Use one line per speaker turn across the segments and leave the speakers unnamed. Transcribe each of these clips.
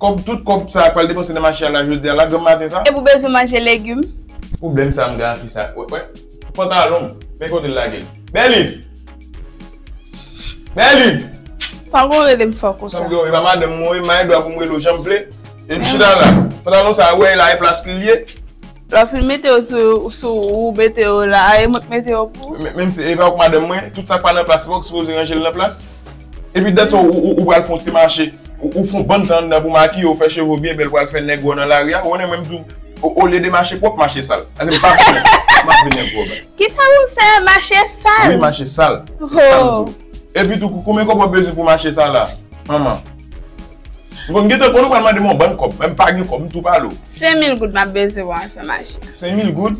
Kòb tout kòb sa pral depanse nan mache a la jodi a la granm maten sa. E pou bezwen manje legum.
Pwoblem sa m
gen ak fi sa wè wè pantalon m men kote l lage l Berline
Berline. Sa w konn rele m fò konsa. Sa m gen w e pa madanm mwen w
e
m pa
gen dwa pou m rele w jan m vle. E m chita la pantalon sa wè e la e plas li l ye. Lap fin mete
yo sou ou mete yo la a e mwen k mete yo pou ou. Menm si e pa ou k madanm
mwen, tout sak pa nan plas se pa ou ki sipoze ranje l nan plas. Epi dat sa ou pral fon ti mache, ou fon bann tan anndan pou makiye w fè cheve w byen bèl pral fè nèg wè w nan lari a, ou konnen mwen m di w olye de mache pwòp mache sal. Paske m pa vle nèg pwòp, m pa vle nèg wè w baz.
Kisa pou m fè mache sal? Wi mache sal, se sa m
di
w. Epi tou
konbyen kòb wap bezwen pou mache sal la manman? M konn gentan konnen w pral mande m yon bann kòb, men m pa gen kòb, m tou pale w. Sen mil goud m ap bezwen
pou mwen fè mache a. Sen mil goud?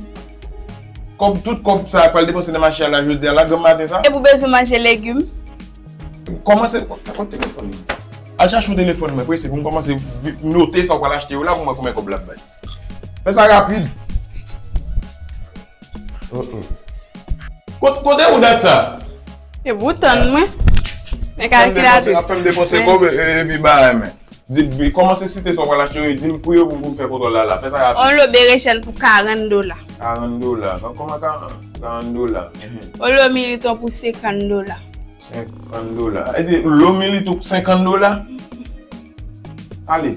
Kòb, tout kòb sa a pral depanse nan mache a la jodi a la, granm maten sa? E pou bezwen manje legim? Kòman se, kot telefòn ou? Al chache yon telefòn mwen prese pou m kòmanse note sa w pral achte yo la pou m wè konbyen kòb l ap bay. Fè sa rapid. Kote ou dat sa? E bouton
mwen. Men kalkilatris. Ap fè m depanse kòb
epi bagay men. Di kòmanse site sa w pral achte yo e di m pri yo pou m fè kontwòl la la. Fè sa rapid. Yon lo berechèn pou 40
dola. 40 dola. Nan
kòman 40 dola? Yon lo
militon pou 50 dola. 50
dola. E di lo militon pou 50 dola? Ale.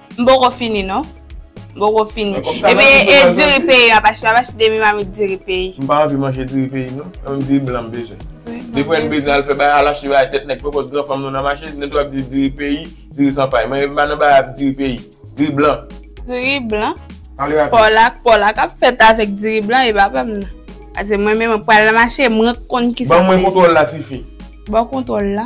M poko fini
non. M poko fini. E pi e diri peyi a pa chè. Apa se demi mamit diri peyi. M pa anvi manje diri
peyi non. Se yon diri blan m bezwen. Depi lè n bezwen al fè bagay, al achte bagay tèt nèg pwopòz gran fanm nou nan mache, nou tou ap di diri peyi, diri san pay. Mwen pa nan bagay ap diri peyi. Diri blan. Diri blan.
Pale rapid. Pòlak,
pòlak ap fèt avèk
diri blan e pa pam nan. Ase mwen menm mwen pral nan mache, mwen konn ki sa m bezwen. Ban mwen kontwòl la tifi.
Ba w kontwòl
la.